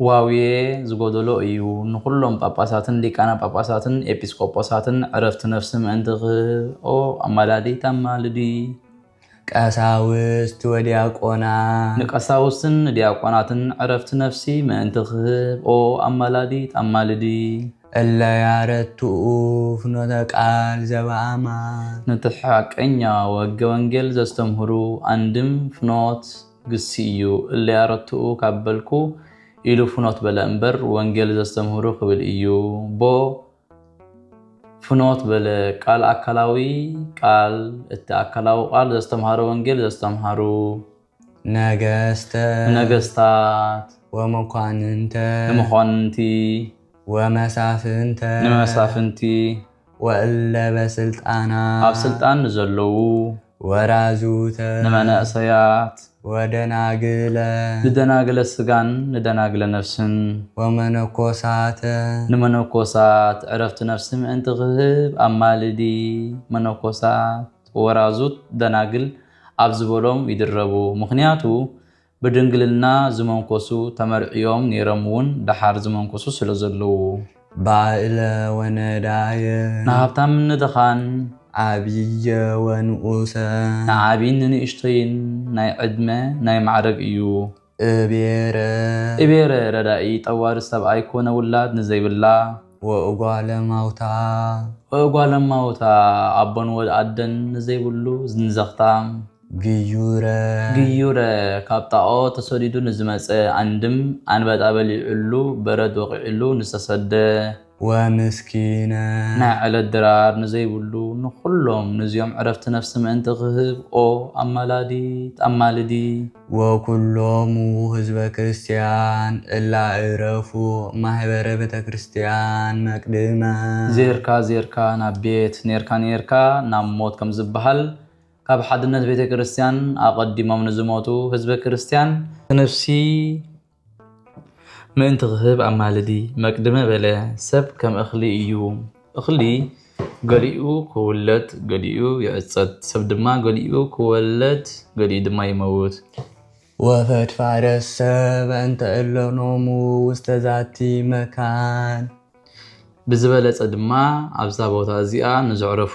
ዋውየ ዝጎደሎ እዩ ንኩሎም ጳጳሳትን ሊቃነ ጳጳሳትን ኤጲስቆጶሳትን ዕረፍቲ ነፍሲ ምእንቲ ክህብ ኦ ኣማላዲት ኣማልዲ። ቀሳውስት ወዲያቆናት። ንቀሳውስትን ንዲያቆናትን ዕረፍቲ ነፍሲ ምእንቲ ክህብ ኦ ኣማላዲት ኣማልዲ። እለ ያረትኡ ፍኖተ ቃል ዘበኣማን። ነቲ ሓቀኛ ወገ ወንጌል ዘስተምህሩ ኣንድም ፍኖት። ግሲ እዩ እለይ ኣረትኡ ካብ በልኩ ኢሉ ፍኖት በለ እምበር ወንጌል ዘስተምህሩ ክብል እዩ ቦ ፍኖት በለ ቃል ኣካላዊ ቃል እቲ ኣካላዊ ቃል ዘስተምሃረ ወንጌል ዘስተምሃሩ ነገስተ ንነገስታት ወመኳንንተ ንመኳንንቲ ወመሳፍንተ ንመሳፍንቲ ወእለበስልጣናት። ኣብ ስልጣን ንዘለዉ። ወራዙተ። ንመነእሰያት። ወደናግለ። ንደናግለ ስጋን ንደናግለ ነፍስን። ወመነኮሳተ። ንመነኮሳት ዕረፍቲ ነፍሲ ምእንቲ ክህብ ኣማልዲ መነኮሳት ወራዙት ደናግል ኣብ ዝበሎም ይድረቡ። ምኽንያቱ ብድንግልና ዝመንኮሱ ተመርዕዮም ነይሮም እውን ደሓር ዝመንኮሱ ስለ ዘለዉ። ባእለ ወነዳየ። ንሃብታምን ንድኻን። ዓብየ ወንኡሰ። ንዓብይን ንንእሽቶይን። ናይ ዕድመ ናይ ማዕረግ እዩ። እቤረ። እቤረ ረዳኢ ጠዋሪ ሰብኣይ ኮነ ውላድ ንዘይብላ። ወእጓለ ማውታ። ወእጓለ ማውታ ኣቦን ወድ ኣደን ንዘይብሉ ንዘኽታም። ግዩረ። ግዩረ፣ ካብ ጣኦ ተሰዲዱ ንዝመጸ ኣንድም፣ ኣንበጣ በሊዑሉ፣ በረድ ወቒዑሉ ንዝተሰደ። ወምስኪነ። ናይ ዕለት ድራር ንዘይብሉ ንኹሎም ንዚኦም ዕረፍቲ ነፍሲ ምእንቲ ክህብ፣ ኦ ኣማላዲት ኣማልዲ። ወኩሎሙ ሕዝበ ክርስቲያን እላ እረፉ ማኅበረ ቤተክርስቲያን መቅድመ። ዜርካ ዜርካ ናብ ቤት፣ ኔርካ ኔርካ ናብ ሞት ከም ዝበሃል፣ ካብ ሓድነት ቤተ ክርስቲያን ኣቐዲሞም ንዝሞቱ ህዝበ ክርስቲያን ነፍሲ ምእንቲ ክህብ ኣማልዲ። መቅድመ በለ ሰብ ከም እኽሊ እዩ፣ እኽሊ ገሊኡ ክውለድ ገሊኡ ይዕጸድ፣ ሰብ ድማ ገሊኡ ክወለድ ገሊኡ ድማ ይመውት። ወፈድፋደሰ በእንተ እለ ኖሙ ውስተ ዛቲ መካን። ብዝበለጸ ድማ ኣብዛ ቦታ እዚኣ ንዘዕረፉ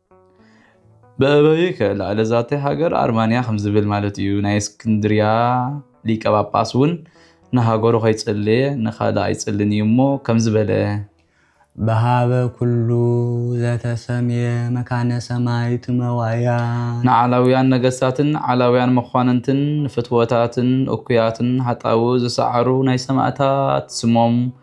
በእበዩ ከ ላዕለ ዛተይ ሃገር ኣርማንያ ከም ዝብል ማለት እዩ ናይ እስክንድርያ ሊቀ ጳጳስ እውን ንሃገሩ ከይጸለየ ንካልእ ኣይጽልን እዩ እሞ ከምዚ በለ በሃበ ኩሉ ዘተሰምየ መካነ ሰማይ ትመዋእያን። ንዓላውያን ነገስታትን ዓላውያን መኳንንትን ንፍትወታትን እኩያትን ሃጣው ዝሰዓሩ ናይ ሰማእታት ስሞም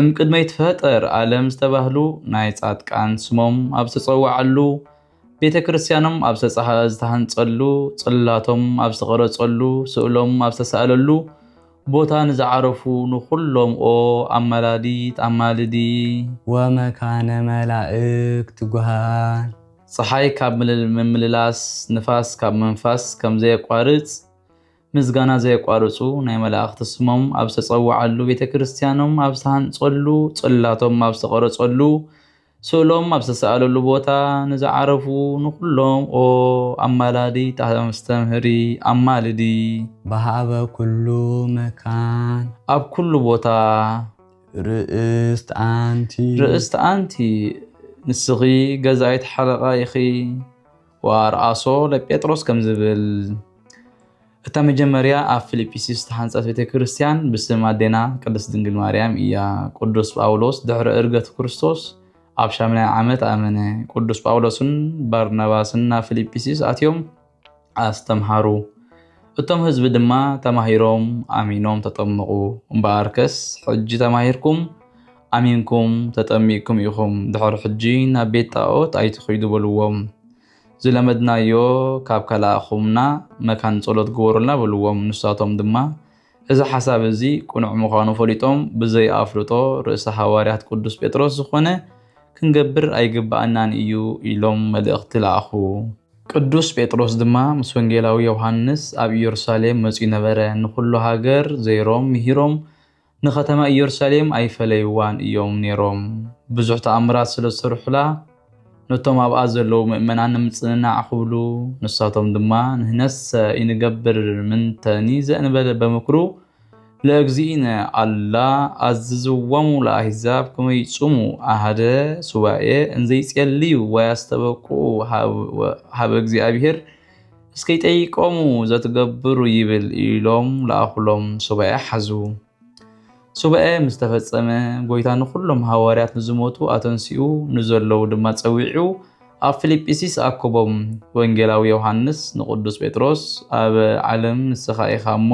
እምቅድመ ይትፈጠር ኣለም ዝተባህሉ ናይ ጻድቃን ስሞም ኣብ ዝተጸዋዓሉ፣ ቤተ ክርስቲያኖም ኣብ ዝተሃንጸሉ፣ ጽላቶም ኣብ ዝተቐረጸሉ፣ ስእሎም ኣብ ዝተሳእለሉ ቦታ ንዝዓረፉ ንኹሎም ኦ ኣማላዲት ኣማልዲ። ወመካነ መላእክት ጉሃን። ጸሓይ ካብ ምምልላስ ንፋስ ካብ ምንፋስ ከምዘየቋርጽ ምስጋና ዘየቋርጹ ናይ መላእኽቲ ስሞም ኣብ ዝተጸውዓሉ፣ ቤተ ክርስቲያኖም ኣብ ዝተሃንጸሉ፣ ጽላቶም ኣብ ዝተቐረጸሉ፣ ስእሎም ኣብ ዝተሰኣለሉ ቦታ ንዝዓረፉ ንኹሎም ኦ ኣማላዲት ኣስተምህሪ ኣማልዲ። በሃበ ኩሉ መካን። ኣብ ኩሉ ቦታ። ርእስት ኣንቲ። ርእስት ኣንቲ። ንስኺ ገዛኢት ሓለቓ ኢኺ። ወኣርኣሶ ለጴጥሮስ ከም ዝብል እታ መጀመርያ ኣብ ፊልጵስዩስ ዝተሓንጸት ቤተ ክርስቲያን ብስም ኣዴና ቅድስት ድንግል ማርያም እያ። ቅዱስ ጳውሎስ ድሕሪ እርገት ክርስቶስ ኣብ ሻምናይ ዓመት ኣመነ። ቅዱስ ጳውሎስን ባርናባስን ናብ ፊልጵስዩስ ኣትዮም ኣስተምሃሩ። እቶም ህዝቢ ድማ ተማሂሮም ኣሚኖም ተጠምቑ። እምበኣርከስ ሕጂ ተማሂርኩም ኣሚንኩም ተጠሚቅኩም ኢኹም ድሕር ሕጂ ናብ ቤት ጣኦት ኣይትኺዱ በልዎም ዝለመድናዮ ካብ ከለኣኹምና መካን ጸሎት ግበሩልና በልዎም ንሳቶም ድማ እዚ ሓሳብ እዚ ቅኑዕ ምዃኑ ፈሊጦም ብዘይ ኣፍልጦ ርእሰ ሃዋርያት ቅዱስ ጴጥሮስ ዝኾነ ክንገብር ኣይግብኣናን እዩ ኢሎም መልእኽቲ ለኣኹ። ቅዱስ ጴጥሮስ ድማ ምስ ወንጌላዊ ዮውሃንስ ኣብ ኢየሩሳሌም መጺኡ ነበረ ንኹሉ ሃገር ዘይሮም ምሂሮም ንኸተማ ኢየሩሳሌም ኣይፈለይዋን እዮም ነይሮም። ብዙሕ ተኣምራት ስለ ዝሰርሑላ፣ ነቶም ኣብኣ ዘለዉ ምእመናን ንምጽንናዕ ክብሉ፣ ንሳቶም ድማ ንሕነሰ ኢንገብር ምንተኒ ዘእንበለ በምክሩ ለእግዚእነ ኣላ ኣዝዝዎሙ ለኣሕዛብ ከመ ይጹሙ ኣሐደ ሱባኤ እንዘ ይጼልዩ ወያስተበቅዑ ኀበ እግዚአብሔር እስኪ ጠይቆሙ ዘትገብሩ ይብል ኢሎም ለኣኹሎም ሱባኤ ሓዙ። ሱባኤ ምስ ተፈጸመ ጎይታ ንኹሎም ሃዋርያት ንዝሞቱ ኣተንሲኡ ንዘለዉ ድማ ጸዊዑ ኣብ ፊልጵስይስ ኣኮቦም ወንጌላዊ ዮሃንስ ንቅዱስ ጴጥሮስ ኣብ ዓለም ንስኻ ኢኻ እሞ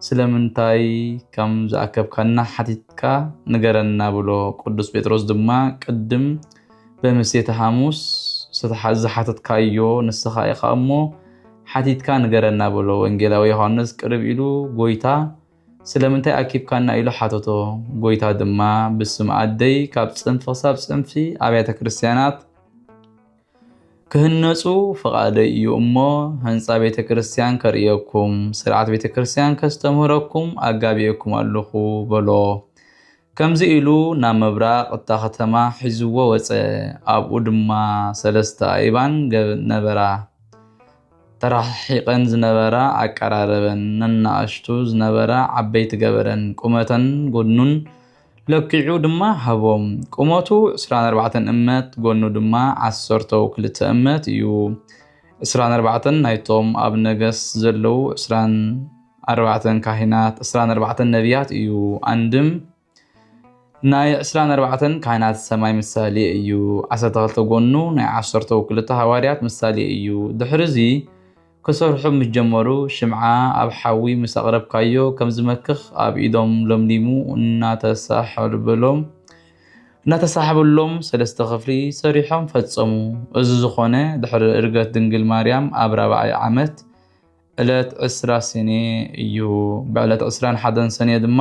ስለምንታይ ከም ዝኣከብካና ሓቲትካ ንገረና ብሎ ቅዱስ ጴጥሮስ ድማ ቅድም ብምሴተ ሓሙስ ዝሓተትካዮ ንስኻ ኢኻ እሞ ሓቲትካ ንገረና በሎ። ወንጌላዊ ዮሃንስ ቅርብ ኢሉ ጎይታ ስለምንታይ ኣኪብካና ኢሉ ሓተቶ። ጎይታ ድማ ብስም ኣደይ ካብ ጽንፊ ክሳብ ጽንፊ ኣብያተ ክርስቲያናት ክህነጹ ፍቓደይ እዩ እሞ ህንፃ ቤተ ክርስቲያን ከርእየኩም ስርዓት ቤተ ክርስቲያን ከስተምህረኩም ኣጋቢኤኩም ኣለኹ በሎ። ከምዚ ኢሉ ናብ ምብራቕ እታ ኸተማ ሒዝዎ ወጸ፣ ኣብኡ ድማ ሰለስተ ኣእባን ነበራ። ተረሓሒቐን ዝነበራ ኣቀራረበን፣ ነናእሽቱ ዝነበራ ዓበይቲ ገበረን፣ ቁመተን ጐድኑን ለኪዑ ድማ ሃቦም። ቁመቱ ዕስራን ኣርባዕተን እመት፣ ጐድኑ ድማ ዓሰርተው ክልተ እመት እዩ፣ ዕስራን ኣርባዕተን ናይቶም ኣብ ነገስ ዘለዉ ዕስራን። ኣርባዕተን ካሂናት ዕስራን ኣርባዕተን ነቢያት እዩ። ኣንድም ናይ ዕስራን ኣርባዕተን ካህናት ሰማይ ምሳሌ እዩ። ዓሰርተ ክልተ ጎኑ ናይ ዓሰርተው ክልተ ሃዋርያት ምሳሌ እዩ። ድሕሪ እዚ ክሰርሑ ምስ ጀመሩ ሽምዓ ኣብ ሓዊ ምስ ኣቕረብካዮ ከም ዝመክኽ ኣብ ኢዶም ለምሊሙ እናተሳሕበሎም እናተሳሕበሎም ሰለስተ ክፍሊ ሰሪሖም ፈጸሙ። እዚ ዝኾነ ድሕሪ እርገት ድንግል ማርያም ኣብ ራብዓይ ዓመት ዕለት ዕስራ ሰኔ እዩ። ብዕለት ዕስራን ሓደን ሰኔ ድማ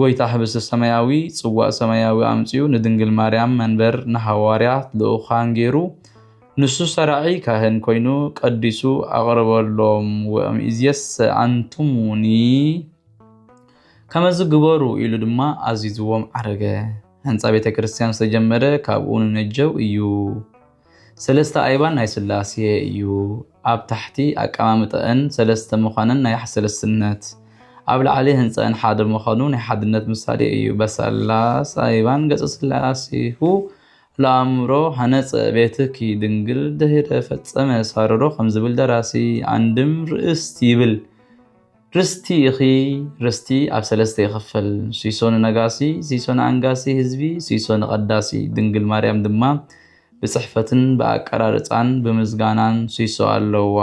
ጎይታ ህብስተ ሰማያዊ ጽዋእ ሰማያዊ ኣምጺኡ ንድንግል ማርያም መንበር ንሃዋርያት ልኡካን ገይሩ ንሱ ሰራዒ ካህን ኮይኑ ቀዲሱ ኣቕረበሎም ወእምይእዜሰ ኣንትሙኒ ከመዝ ግበሩ ኢሉ ድማ ኣዚዝዎም ዓረገ። ህንጻ ቤተ ክርስቲያን ዝተጀመረ ካብኡ ንነጀው እዩ። ሰለስተ ኣይባን ናይ ስላሴ እዩ ኣብ ታሕቲ ኣቀማምጠእን ሰለስተ ምዃነን ናይ ሰለስትነት ኣብ ላዕሊ ህንፀእን ሓደ ምዃኑ ናይ ሓድነት ምሳሌ እዩ በሰላስ ኣይባን ገፀ ስላሴሁ ለኣእምሮ ሃነፀ ቤትኪ ድንግል ድህረ ፈፀመ ሳረሮ ከምዝብል ደራሲ ኣንድም ርእስት ይብል ርስቲ ኢኺ ርስቲ ኣብ ሰለስተ ይኽፈል ሲሶ ንነጋሲ ሲሶ ንኣንጋሲ ህዝቢ ሲሶ ንቐዳሲ ድንግል ማርያም ድማ ብጽሕፈትን ብኣቀራርጻን ብምዝጋናን ሲሶ ኣለዋ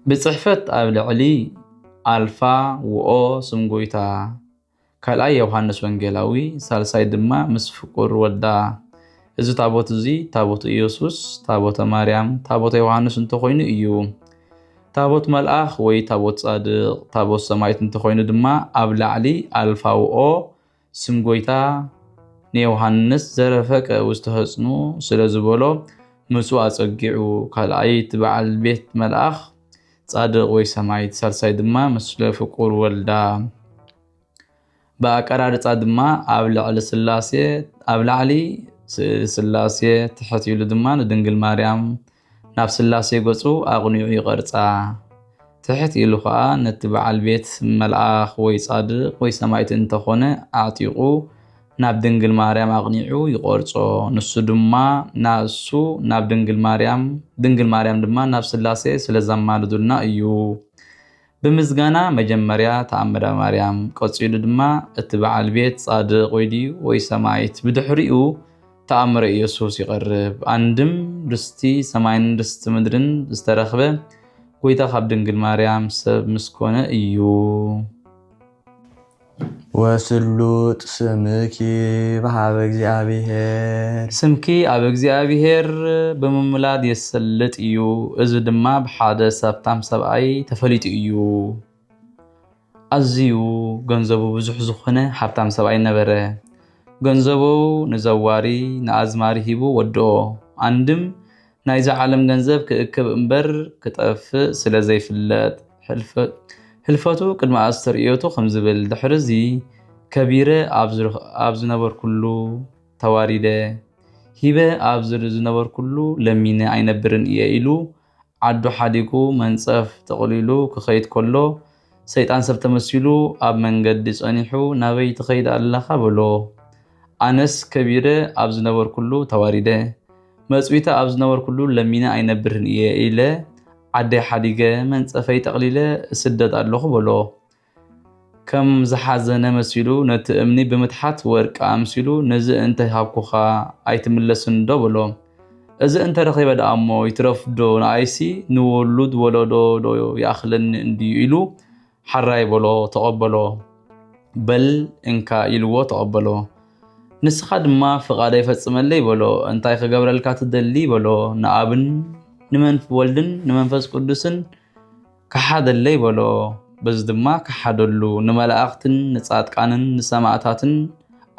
ብጽሕፈት ኣብ ልዕሊ ኣልፋ ውኦ ስም ጎይታ ካልኣይ የውሃንስ ወንጌላዊ ሳልሳይ ድማ ምስ ፍቁር ወዳ እዚ ታቦት እዚ ታቦት ኢየሱስ ታቦተ ማርያም ታቦተ ዮሃንስ እንተኾይኑ እዩ ታቦት መልኣኽ ወይ ታቦት ጻድቕ ታቦት ሰማይት እንተኾይኑ ድማ ኣብ ላዕሊ ኣልፋውኦ ስም ጎይታ ንዮሃንስ ዘረፈቀ ውስተህጽኑ ስለ ዝበሎ ምጹ ኣጸጊዑ ካልኣይ እቲ በዓል ቤት መልኣኽ ጻድቕ ወይ ሰማይት ሳልሳይ ድማ ምስለ ፍቁር ወልዳ ብኣቀራርጻ ድማ ኣብ ልዕሊ ስላሴ ኣብ ላዕሊ ስእሊ ስላሴ ትሕት ኢሉ ድማ ንድንግል ማርያም ናብ ስላሴ ገጹ ኣቕኒዑ ይቐርጻ ትሕት ኢሉ ኸኣ ነቲ በዓል ቤት መልኣኽ ወይ ጻድቕ ወይ ሰማይት እንተኾነ ኣዕጢቑ ናብ ድንግል ማርያም ኣቕኒዑ ይቖርጾ፣ ንሱ ድማ ናእሱ ናብ ድንግል ማርያም፣ ድንግል ማርያም ድማ ናብ ሥላሴ ስለ ዘማልዱልና እዩ። ብምስጋና መጀመርያ ተኣምረ ማርያም፣ ቀጺሉ ድማ እቲ በዓል ቤት ጻድቕ ወይ ድዩ ወይ ሰማይት፣ ብድሕሪኡ ተኣምረ ኢየሱስ ይቐርብ። ኣንድም ርስቲ ሰማይን ርስቲ ምድርን ዝተረኽበ ጐይታ ካብ ድንግል ማርያም ሰብ ምስ ኮነ እዩ። ወስሉጥ ስምኪ በኀበ እግዚኣብሔር። ስምኪ ኣብ እግዚኣብሔር ብምምላድ የሰልጥ እዩ፣ እዚ ድማ ብሓደ ሰብታም ሰብኣይ ተፈሊጡ እዩ። ኣዝዩ ገንዘቡ ብዙሕ ዝኾነ ሃብታም ሰብኣይ ነበረ። ገንዘቡ ንዘዋሪ ንኣዝማሪ ሂቡ ወድኦ። ኣንድም ናይዛ ዓለም ገንዘብ ክእክብ እምበር ክጠፍእ ስለ ዘይፍለጥ ህልፈቱ ቅድሚ ኣስተርእዮቱ ከም ዝብል ድሕርዚ ከቢረ ኣብ ዝነበርኩሉ ተዋሪደ፣ ሂበ ኣብ ዝነበርኩሉ ለሚነ ኣይነብርን እየ ኢሉ ዓዱ ሓዲጉ መንጸፍ ጠቕሊሉ ክኸይድ ከሎ ሰይጣን ሰብ ተመሲሉ ኣብ መንገዲ ጸኒሑ ናበይ ትኸይድ ኣለኻ በሎ። ኣነስ ከቢረ ኣብ ዝነበርኩሉ ተዋሪደ፣ መጽዊተ ኣብ ዝነበርኩሉ ለሚነ ኣይነብርን እየ ኢለ ዓደይ ሓዲገ መንጸፈይ ጠቕሊለ እስደድ ኣለኹ በሎ። ከም ዝሓዘነ መሲሉ ነቲ እምኒ ብምትሓት ወርቂ ኣምሲሉ ነዚ እንተ ሃብኩኻ ኣይትምለስንዶ በሎ። እዚ እንተ ረኺበ ደኣ እሞ ይትረፍ ዶ ንኣይሲ ንውሉድ ወለዶ ዶ ይኣኽለኒ እንድዩ ኢሉ ሓራይ በሎ ተቐበሎ። በል እንካ ኢልዎ ተቐበሎ። ንስኻ ድማ ፍቓደይ ፈጽመለይ በሎ። እንታይ ክገብረልካ ትደሊ በሎ። ንኣብን ንመንፍ ወልድን ንመንፈስ ቅዱስን ከሓደለይ በሎ፣ በዚ ድማ ከሓደሉ፣ ንመላእኽትን ንጻድቃንን ንሰማእታትን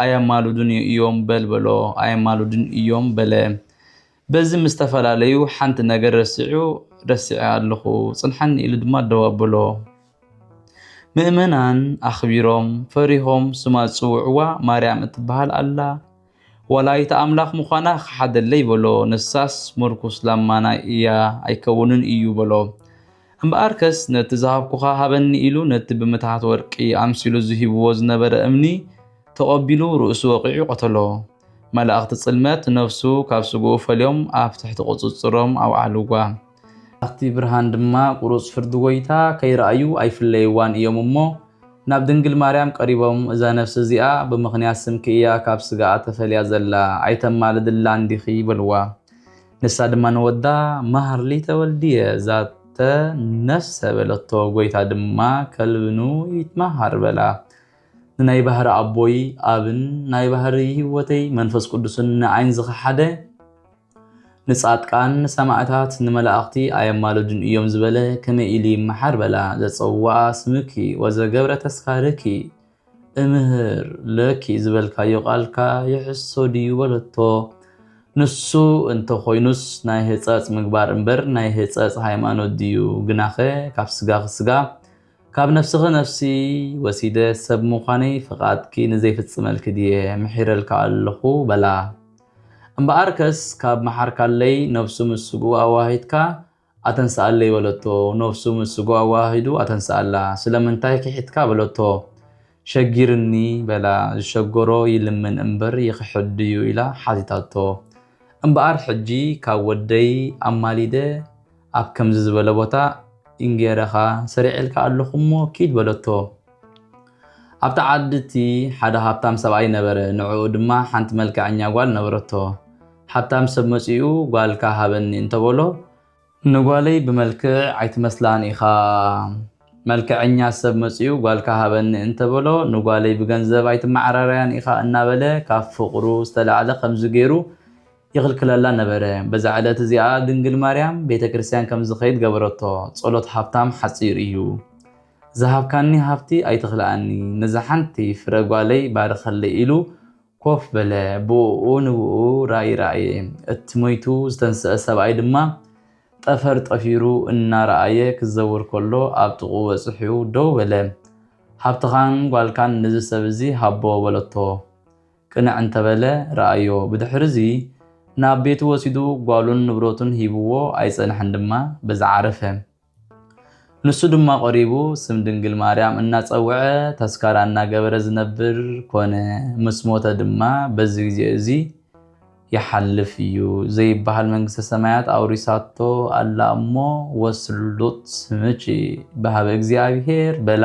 ኣየማልዱን እዮም በል በሎ፣ ኣየማልዱን እዮም በለ። በዚ ምስ ተፈላለዩ ሓንቲ ነገር ረሲዑ ረሲዐ ኣለኹ ጽንሓኒ ኢሉ ድማ ደው ኣብሎ። ምእመናን ኣኽቢሮም ፈሪሆም ስማ ዝጽውዕዋ ማርያም እትበሃል ኣላ ወላዲተ ኣምላኽ ምዃና ክሓደለይ በሎ። ንሳስ ምርኩስ ላማና እያ ኣይከውንን እዩ በሎ። እምበኣርከስ ነቲ ዝሃብኩኻ ሃበኒ ኢሉ ነቲ ብምትሃት ወርቂ ኣምሲሉ ዝሂብዎ ዝነበረ እምኒ ተቐቢሉ ርእሱ ወቒዑ ቀተሎ። መላእኽቲ ጽልመት ነፍሱ ካብ ስግኡ ፈልዮም ኣብ ትሕቲ ቁጽጽሮም ኣውዓልዋ። ኣብቲ ብርሃን ድማ ቁሩጽ ፍርዲ ጎይታ ከይረኣዩ ኣይፍለይዋን እዮም እሞ ናብ ድንግል ማርያም ቀሪቦም እዛ ነፍሲ እዚኣ ብምኽንያት ስምኪ እያ ካብ ስጋኣ ተፈልያ ዘላ ኣይተማልድላን ዲኺ በልዋ ንሳ ድማ ንወዳ ማህርሊ ተወልድየ ዛተ ነፍሰ በለቶ ጎይታ ድማ ከልብኑ ይትማሃር በላ ንናይ ባህሪ ኣቦይ ኣብን ናይ ባህሪ ህይወተይ መንፈስ ቁዱስን ንኣይን ዝኸሓደ ንጻድቃን ንሰማእታት ንመላእኽቲ ኣየማልዱን እዮም ዝበለ ከመይ ኢሉ ይመሓር በላ ዘጸውዋ ስምኪ ወዘገብረ ተስካርኪ እምህር ለኪ ዝበልካዮ ቃልካ ይሕሶ ድዩ በለቶ ንሱ እንተ ኾይኑስ ናይ ህጸጽ ምግባር እምበር ናይ ህጸጽ ሃይማኖት ድዩ ግናኸ ካብ ስጋኺ ስጋ ካብ ነፍስኺ ነፍሲ ወሲደ ሰብ ምዃነይ ፍቓድኪ ንዘይፍጽመልኪ ድየ ምሒረልካ ኣለኹ በላ እምበኣርከስ ካብ መሓርካለይ ነፍሱ ምስ ስግኡ ኣወሃሂድካ ኣተንስኣለይ በለቶ። ነፍሱ ምስ ስግኡ ኣወሃሂዱ ኣተንስኣላ። ስለምንታይ ክሒድካ በለቶ። ሸጊርኒ በላ። ዝሸገሮ ይልምን እምበር ይኽሕድ ድዩ ኢላ ሓቲታቶ። እምበኣር ሕጂ ካብ ወደይ ኣማሊደ ኣብ ከምዚ ዝበለ ቦታ እንጌረኻ ሰሪዔልካ ኣሎኹ እሞ ኪድ በለቶ። ኣብታ ዓዲ እቲ ሓደ ሃብታም ሰብኣይ ነበረ፣ ንዕኡ ድማ ሓንቲ መልከዐኛ ጓል ነበረቶ። ሃብታም ሰብ መጺኡ ጓልካ ሃበኒ እንተ በሎ፣ ንጓለይ ብመልክዕ ኣይትመስላን ኢኻ፣ መልከዐኛ ሰብ መጺኡ ጓልካ ሃበኒ እንተ በሎ፣ ንጓለይ ብገንዘብ ኣይትመዓራረያን ኢኻ እናበለ ካብ ፍቕሩ ዝተላዕለ ከምዚ ገይሩ ይኽልክለላ ነበረ። በዛ ዕለት እዚኣ ድንግል ማርያም ቤተ ክርስቲያን ከም ዝኸይድ ገበረቶ። ጸሎት ሃብታም ሓጺር እዩ። ዝሃብካኒ ሃብቲ ኣይትኽልኣኒ፣ ነዛ ሓንቲ ፍረ ጓለይ ባርኸለይ ኢሉ ኮፍ በለ። ብእኡ ንብእኡ ራእይ ረኣየ። እቲ ሞይቱ ዝተንስኣ ሰብኣይ ድማ ጠፈር ጠፊሩ እናረኣየ ክዘውር ከሎ ኣብ ጥቕኡ በጽሑ ደው በለ። ሃብትኻን ጓልካን ነዚ ሰብ እዚ ሃቦ በለቶ። ቅንዕ እንተ በለ ረኣዮ። ብድሕርዚ ናብ ቤቱ ወሲዱ ጓሉን ንብረቱን ሂብዎ ኣይጸንሐን ድማ በዚ ዓረፈ። ንሱ ድማ ቐሪቡ ስም ድንግል ማርያም እናጸውዐ ተስካራ እናገበረ ዝነብር ኮነ። ምስ ሞተ ድማ በዚ ግዜ እዚ ይሓልፍ እዩ ዘይበሃል መንግስተ ሰማያት ኣውሪሳቶ ኣላ እሞ ወስሉጥ ስምኪ በሃበ እግዚኣብሔር በላ።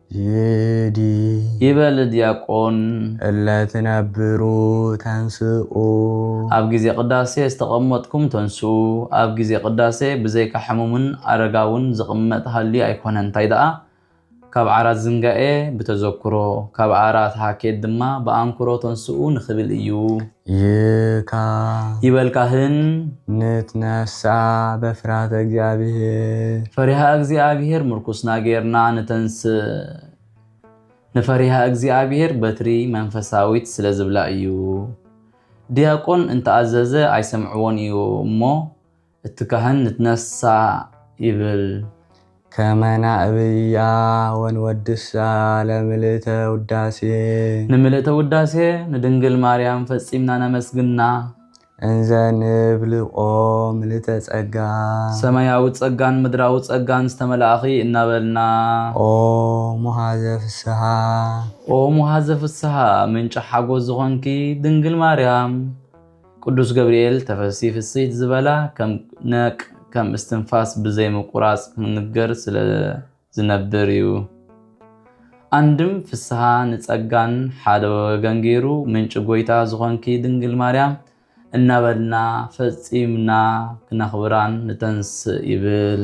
ይዲ ይበል ዲያቆን። እለ ትነብሩ ተንስኡ። ኣብ ግዜ ቅዳሴ ዝተቐመጥኩም ተንስኡ። ኣብ ግዜ ቅዳሴ ብዘይካ ሕሙምን ኣረጋውን ዝቕመጥ ሃልዩ ኣይኮነን እንታይ ደኣ ካብ ዓራት ዝንጋኤ ብተዘክሮ ካብ ዓራት ሃኬት ድማ ብኣንክሮ ተንስኡ ንክብል እዩ። ይካ። ይበል ካህን። ንትነስኣ በፍራተ እግዚኣብሔር። ፈሪሃ እግዚኣብሔር ምርኩስና ገይርና ንተንስእ። ንፈሪሃ እግዚኣብሔር በትሪ መንፈሳዊት ስለ ዝብላ እዩ። ዲያቆን እንተኣዘዘ ኣይሰምዕዎን እዩ እሞ እቲ ካህን ንትነሣእ ይብል። ከመ ናእብያ ወንወድሳ ለምልእተ ውዳሴ። ንምልእተ ውዳሴ ንድንግል ማርያም ፈጺምና ነመስግና። እንዘ ንብል ኦ ምልእተ ጸጋ። ሰማያዊ ጸጋን ምድራዊ ጸጋን ዝተመላእኺ እናበልና። ኦ ሙኃዘ ፍሥሓ። ኦ ሙኃዘ ፍሥሓ ምንጪ ሓጐስ ዝኾንኪ ድንግል ማርያም። ቅዱስ ገብርኤል ተፈሲ ፍስሕት ዝበላ ከም ነቅ ከም እስትንፋስ ብዘይ ምቁራጽ ክንገር ስለ ዝነብር እዩ። ኣንድም ፍስሓ ንጸጋን ሓደ ወገን ገይሩ ምንጪ ጎይታ ዝኾንኪ ድንግል ማርያም እናበልና ፈጺምና ክነኽብራን ንተንስእ ይብል።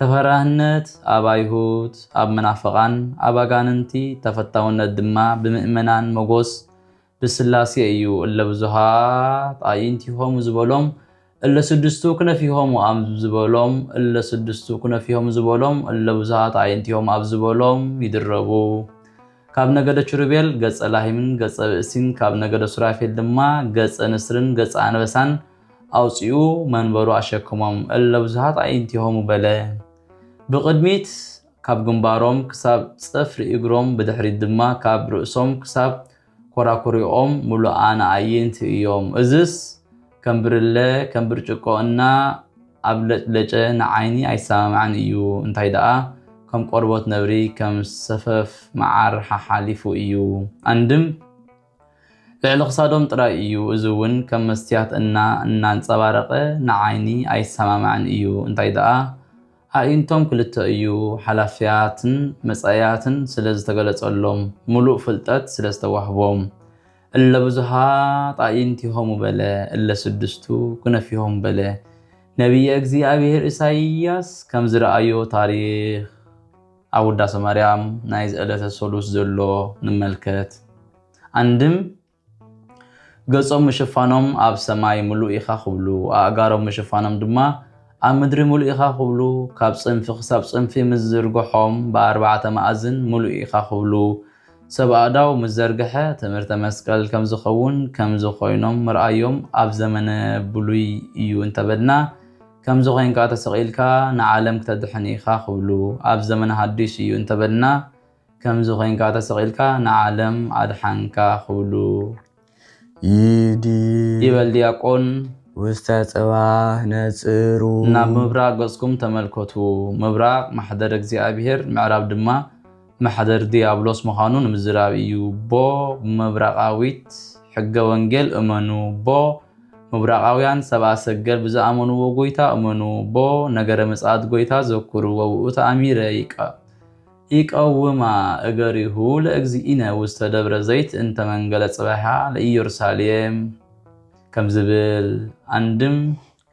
ተፈራህነት ኣብ ኣይሁድ፣ ኣብ መናፍቓን ኣብ ኣጋንንቲ፣ ተፈታውነት ድማ ብምእመናን መጎስ ብስላሴ እዩ። እለ ብዙሃት ኣኢንቲሆሙ ዝበሎም እለ ስድስቱ ክነፊሆሙ ኣብ ዝበሎም እለ ስድስቱ ክነፊሆሙ ዝበሎም እለ ብዙሃት ኣኢንቲሆሙ ኣብ ዝበሎም ይድረቡ። ካብ ነገደ ቹሩቤል ገጸ ላሂምን ገጸ ብእሲን ካብ ነገደ ሱራፌል ድማ ገጸ ንስርን ገጸ ኣንበሳን ኣውጺኡ መንበሩ ኣሸክሞም እለ ብዙሃት ኣይንቲሆሙ በለ። ብቕድሚት ካብ ግንባሮም ክሳብ ጽፍሪ እግሮም ብድሕሪት ድማ ካብ ርእሶም ክሳብ ኮራኩሪኦም ምሉኣን ኣዕይንቲ እዮም። እዝስ ከም ብርለ ከም ብርጭቆ እና ኣብለጭለጨ ንዓይኒ ኣይሰማማዕን እዩ። እንታይ ደኣ ከም ቆርቦት ነብሪ ከም ሰፈፍ መዓር ሓሓሊፉ እዩ። ኣንድም! ልዕሊ ክሳዶም ጥራይ እዩ እዚ ውን ከም መስትያት እና እናንጸባረቀ ንዓይኒ ኣይሰማማዕን እዩ እንታይ ደኣ ኣዒንቶም ክልተ እዩ ሓላፍያትን መጻኢያትን ስለ ዝተገለጸሎም ሙሉእ ፍልጠት ስለ ዝተዋህቦም እለ ብዙሃት ኣዒንቲሆሙ በለ እለ ስድስቱ ክነፊሆሙ በለ ነብየ እግዚኣብሔር ኢሳይያስ ከም ዝረኣዮ ታሪኽ ኣብ ውዳሰ ማርያም ናይዚ ዕለተ ሰሉስ ዘሎ ንመልከት። ኣንድም ገጾም ምሽፋኖም ኣብ ሰማይ ምሉእ ኢኻ ክብሉ፣ ኣእጋሮም ምሽፋኖም ድማ ኣብ ምድሪ ምሉእ ኢኻ ክብሉ፣ ካብ ጽንፊ ክሳብ ጽንፊ ምስ ዝርግሖም ብኣርባዕተ መኣዝን ምሉእ ኢኻ ክብሉ፣ ሰብ ኣእዳው ምስ ዘርግሐ ትምህርተ መስቀል ከም ዝኸውን ከምዚ ኮይኖም ምርኣዮም ኣብ ዘመነ ብሉይ እዩ እንተበልና፣ ከምዚ ኮይንካ ተሰቂልካ ንዓለም ክተድሕን ኢካ ክብሉ ኣብ ዘመነ ሃዱሽ እዩ እንተበልና ከምዚ ኮይንካ ተሰቂልካ ንዓለም ኣድሓንካ ክብሉ ይዲ ይበል ድያቆን ውስተ ጽባህ ነጽሩ። ናብ ምብራቕ ገጽኩም ተመልከቱ፣ ምብራቕ ማሕደረ እግዚኣብሔር፣ ምዕራብ ድማ ማሕደር ድያብሎስ ምዃኑ ንምዝራብ እዩ ቦ ምብራቓዊት ሕገ ወንጌል እመኑ ቦ ምብራቓውያን ሰብኣ ሰገል ብዝኣመንዎ ጎይታ እመኑ ቦ ነገረ ምጽኣት ጎይታ ዘኩሩ ወብኡ ተኣሚረ ይቀ ይቀውማ እገሪሁ ለእግዚእነ ውስተ ደብረ ዘይት እንተ መንገለ ጽባሕያ ለኢየሩሳሌም ከም ዝብል ኣንድም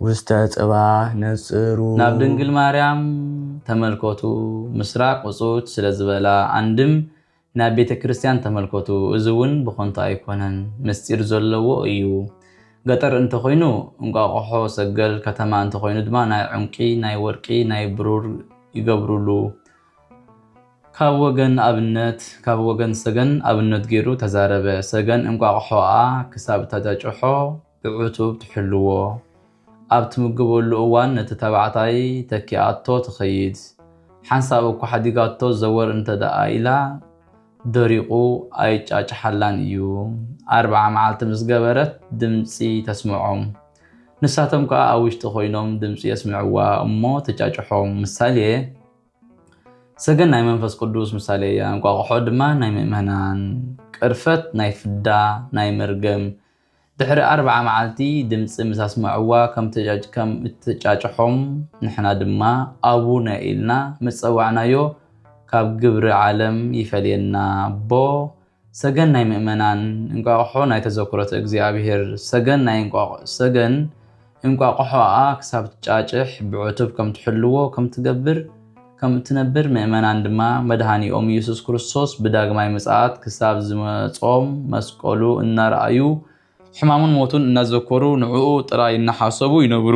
ውስተ ጽባሕ ነጽሩ። ናብ ድንግል ማርያም ተመልከቱ ምስራቅ ውጹት ስለ ዝበላ ኣንድም ናብ ቤተ ክርስትያን ተመልከቱ እዚ ውን ብከንቱ ኣይኮነን ምስጢር ዘለዎ እዩ ገጠር እንተ ኮይኑ እንቋቁሖ ሰገል ከተማ እንተ ኮይኑ ድማ ናይ ዑንቂ ናይ ወርቂ ናይ ብሩር ይገብሩሉ ካብ ወገን ኣብነት ካብ ወገን ሰገን ኣብነት ጌሩ ተዛረበ ሰገን እንቋቁሖኣ ክሳብ ተተጭሖ ብዕቱብ ትሕልዎ። ኣብ ትምግበሉ እዋን ነቲ ተባዕታይ ተኪኣቶ ትኸይድ። ሓንሳብ እኳ ሓዲጋቶ ዘወር እንተድኣ ኢላ ደሪቑ ኣይጫጭሓላን እዩ። ኣርብዓ መዓልቲ ምስ ገበረት ድምጺ ተስምዖም። ንሳቶም ከኣ ኣብ ውሽጢ ኮይኖም ድምጺ የስምዕዋ እሞ ትጫጭሖም። ምሳሌ፣ ሰገን ናይ መንፈስ ቅዱስ ምሳሌ እያ፣ እንቋቑሖ ድማ ናይ ምእመናን፣ ቅርፈት ናይ ፍዳ፣ ናይ መርገም፣ ድሕሪ ኣርብዓ መዓልቲ ድምጺ ምስ ኣስምዕዋ ከም እትጫጭሖም ንሕና ድማ ኣቡነ ኢልና ምስ ጸዋዕናዮ ካብ ግብሪ ዓለም ይፈልየና ኣቦ ሰገን ናይ ምእመናን እንቋቕሖ ናይ ተዘክሮተ እግዚኣብሔር ሰገን ናይ እንቋቕሖ ሰገን እንቋቑሖኣ ክሳብ ትጫጭሕ ብዕቱብ ከም ትሕልዎ ከም ትገብር ከም እትነብር ምእመናን ድማ መድኃኒኦም ኢየሱስ ክርስቶስ ብዳግማይ ምጽኣት ክሳብ ዝመጾም መስቀሉ እናረኣዩ ሕማሙን ሞቱን እናዘከሩ ንዕኡ ጥራይ እናሓሰቡ ይነብሩ።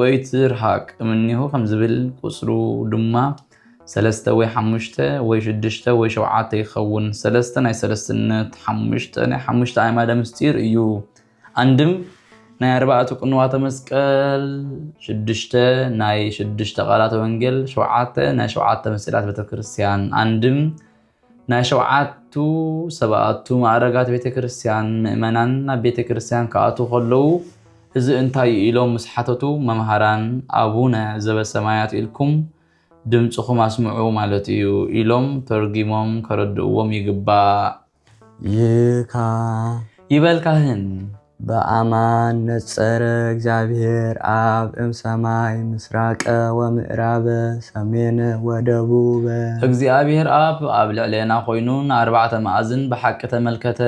ወይትርሃቅ እምኔሁ ከም ዝብል ቁጽሩ ድማ ሰለስተ ወይ ሓሙሽተ ወይ ሽዱሽተ ወይ ሸውዓተ ይኸውን። ሰለስተ ናይ ሰለስትነት፣ ሓሙሽተ ናይ ሓሙሽተ ኣዕማደ ምስጢር እዩ። ኣንድም ናይ ኣርባዕቱ ቅንዋተ መስቀል፣ ሽዱሽተ ናይ ሽዱሽተ ቃላተ ወንጌል፣ ሸውዓተ ናይ ሸውዓተ ምስጢራት ቤተክርስትያን፣ ኣንድም ናይ ሸውዓቱ ሰባኣቱ ማእረጋት ቤተ ክርስቲያን ምእመናን ናብ ቤተ ክርስቲያን ክኣትዉ ከለዉ እዚ እንታይ እዩ ኢሎም ምስ ሓተቱ መምሃራን ኣቡነ ዘበሰማያት ኢልኩም ድምፅኹም ኣስምዑ ማለት እዩ ኢሎም ተርጊሞም ከረድእዎም ይግባእ። ይካ ይበል ካህን በኣማን ነጸረ እግዚኣብሔር ኣብ እም ሰማይ ምሥራቀ ወምእራበ ሰሜነ ወደቡበ። እግዚኣብሔር ኣብ ኣብ ልዕሌና ኮይኑ ንኣርባዕተ መኣዝን ብሓቂ ተመልከተ።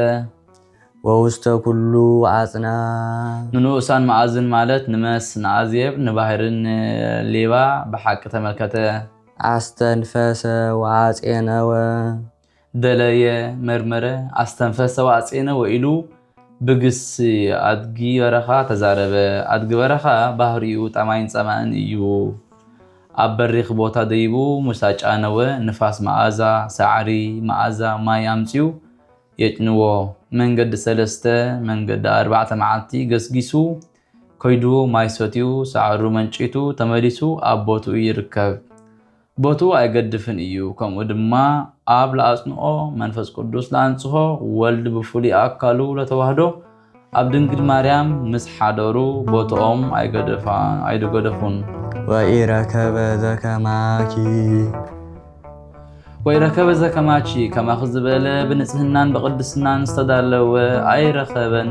ወውስተ ኩሉ ኣጽናፍ። ንንኡሳን መኣዝን ማለት ንመስ፣ ንኣዜብ፣ ንባሕሪ፣ ን ሌባ ብሓቂ ተመልከተ። ኣስተንፈሰ ወኣጼነወ። ደለየ፣ መርመረ፣ ኣስተንፈሰ ወኣጼነ ወኢሉ ብግስ ኣድጊ በረኻ ተዛረበ። ኣድጊ በረኻ ባህሪኡ ጠማይን ጸማእን እዩ። ኣብ በሪኽ ቦታ ደይቡ ምስ ኣጫነወ ንፋስ መኣዛ ሳዕሪ፣ መኣዛ ማይ ኣምጺኡ የጭንዎ። መንገዲ ሰለስተ፣ መንገዲ ኣርባዕተ መዓልቲ ገስጊሱ ከይዱ ማይ ሰትዩ ሳዕሩ መንጪቱ ተመሊሱ ኣብ ቦትኡ ይርከብ። ቦትኡ ኣይገድፍን እዩ ከምኡ ድማ ኣብ ለኣጽንኦ መንፈስ ቅዱስ ለኣንጽሆ ወልድ ብፍሉይ ኣካሉ ለተዋህዶ ኣብ ድንግል ማርያም ምስ ሓደሩ ቦትኦም ኣይገደፋ ኣይደገደፉን ወኢረከበ ዘከማኪ ወይ ረከበ ዘከማቺ ከማኺ ዝበለ ብንጽህናን ብቅድስናን ዝተዳለወ ኣይረኸበን።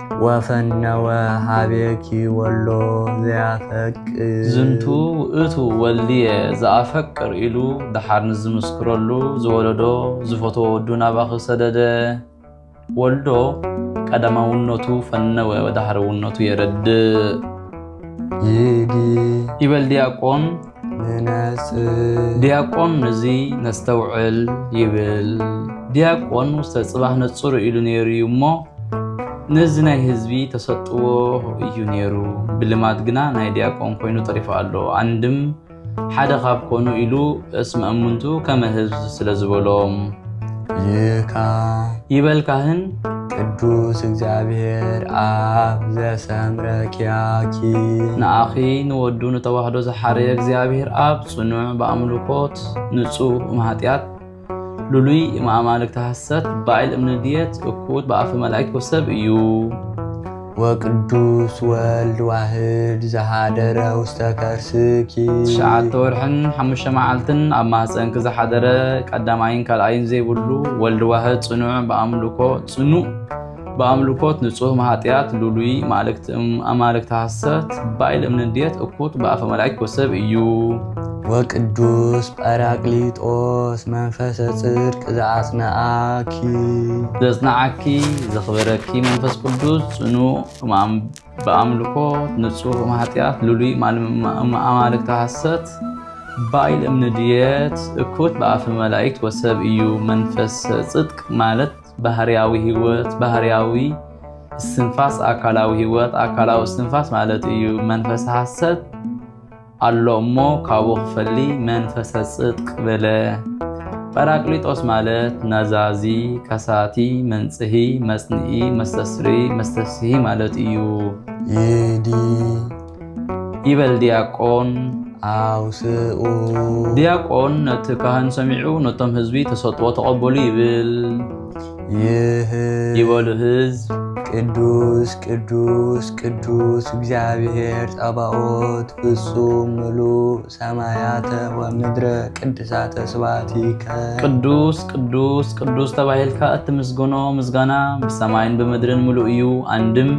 ወፈነወ ሀቤኪ ወሎ ዘያፈቅር ዝንቱ ውእቱ ወልድየ ዘኣፈቅር ኢሉ ደሓር ንዝምስክረሉ ዝወለዶ ዝፈተዎ ወዱ ናባኺ ሰደደ። ወልዶ ቀዳማውነቱ ፈነወ ወደሃረውነቱ የረድእ። ይዲ ይበል ዲያቆን ዲያቆን እዚ ነስተውዕል ይብል ዲያቆን ውስተ ጽባህ ነጽሩ ኢሉ ነይሩ እዩ እሞ ነዚ ናይ ህዝቢ ተሰጥዎ እዩ ነይሩ ብልማድ ግና ናይ ዲያቆን ኮይኑ ተሪፉ ኣሎ ኣንድም ሓደ ካብ ኮኑ ኢሉ እስመ እሙንቱ ከመ ህዝብ ስለ ዝበሎም ይካ ይበል ካህን ቅዱስ እግዚኣብሔር ኣብ ዘሰምረ ኪያኪ ንኣኺ ንወዱ ንተዋህዶ ዝሓረየ እግዚኣብሔር ኣብ ጽኑዕ ብኣምልኮት ንጹህ እምሃጢያት ልሉይ እምኣማልክቲ ሃሰት ባይል እምንድየት እኩት ብኣፈ መላእክት ወሰብ እዩ ወቅዱስ ወልድ ዋህድ ዝሃደረ ውስተ ከርስኪ ትሽዓተ ወርሕን ሓሙሽተ መዓልትን ኣብ ማህፀንኪ ዝሓደረ ቀዳማይን ካልኣይን ዘይብሉ ወልድ ዋህድ ፅኑዕ ብኣምልኮ ፅኑዕ ብኣምልኮት ንጹህ ማሃጥያት ሉሉይ ማእልክቲ ኣማልክቲ ሃሰት ባይል እምንድየት እኩት ብኣፈ መላእክት ወሰብ እዩ ወቅዱስ ጳራቅሊጦስ መንፈሰ ጽድቅ ዘኣጽንኣኪ ዘጽንዓኪ ዘኽበረኪ መንፈስ ቅዱስ ጽኑዕ ብኣምልኮ ንጹህ እምኃጢኣት ልሉይ እምኣማልክተ ሐሰት ባይል እምንድየት እኩት በኣፈ መላእክት ወሰብ እዩ። መንፈሰ ጽድቅ ማለት ባህርያዊ ህይወት፣ ባህርያዊ እስትንፋስ፣ ኣካላዊ ህይወት፣ ኣካላዊ እስትንፋስ ማለት እዩ። መንፈሰ ሐሰት ኣሎ እሞ ካብኡ ክፈሊ መንፈሰ ጽድቅ በለ። ጰራቅሊጦስ ማለት ነዛዚ፣ ከሳቲ፣ መንጽሂ፣ መጽንኢ፣ መስተስሪ፣ መስተስሂ ማለት እዩ። ይዲ ይበል ዲያቆን ኣውስኡ ዲያቆን ነቲ ካህን ሰሚዑ ነቶም ህዝቢ ተሰጥዎ ተቐበሉ ይብል። ይህ ይበሉ ህዝብ ቅዱስ ቅዱስ ቅዱስ እግዚአብሔር ጸባኦት ፍጹም ምሉእ ሰማያተ ወምድረ ቅድሳተ ስብሐት ይከ ቅዱስ ቅዱስ ቅዱስ ተባሂልካ እትምስግኖ ምስጋና ብሰማይን ብምድርን ምሉእ እዩ። አንድም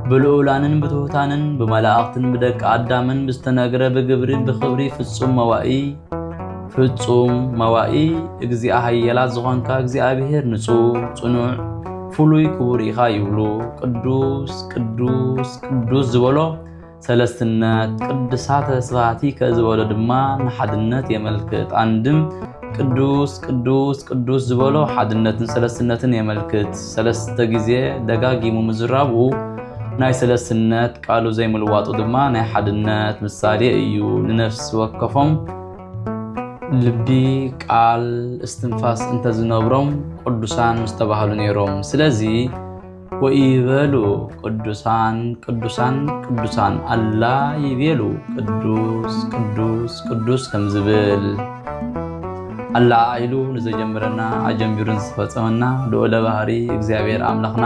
ብልዑላንን ብትሑታንን ብመላእኽትን ብደቂ አዳምን ብዝተነግረ ብግብሪ ብኽብሪ ፍጹም መዋኢ ፍጹም መዋኢ እግዚኣ ሃየላት ዝኾንካ እግዚኣብሔር ንጹህ ጽኑዕ ፍሉይ ክቡር ኢኻ ይብሉ ቅዱስ ቅዱስ ቅዱስ ዝበሎ ሰለስትነት ቅድሳተ ስብሃቲከ ዝበሎ ድማ ንሓድነት የመልክት ኣንድም ቅዱስ ቅዱስ ቅዱስ ዝበሎ ሓድነትን ሰለስትነትን የመልክት ሰለስተ ግዜ ደጋጊሙ ምዝራቡ ናይ ሰለስትነት ቃሉ ዘይምልዋጡ ድማ ናይ ሓድነት ምሳሌ እዩ። ንነፍሲ ወከፎም ልቢ፣ ቃል፣ እስትንፋስ እንተዝነብሮም ቅዱሳን ምስተባህሉ ነይሮም። ስለዚ ወኢይበሉ ቅዱሳን ቅዱሳን ቅዱሳን ኣላ ይቤሉ ቅዱስ ቅዱስ ቅዱስ ከም ዝብል ኣላ ኢሉ ንዘጀምረና ኣጀንቢሩን ዝፈፀመና ልዑለ ባህሪ እግዚኣብሔር ኣምላኽና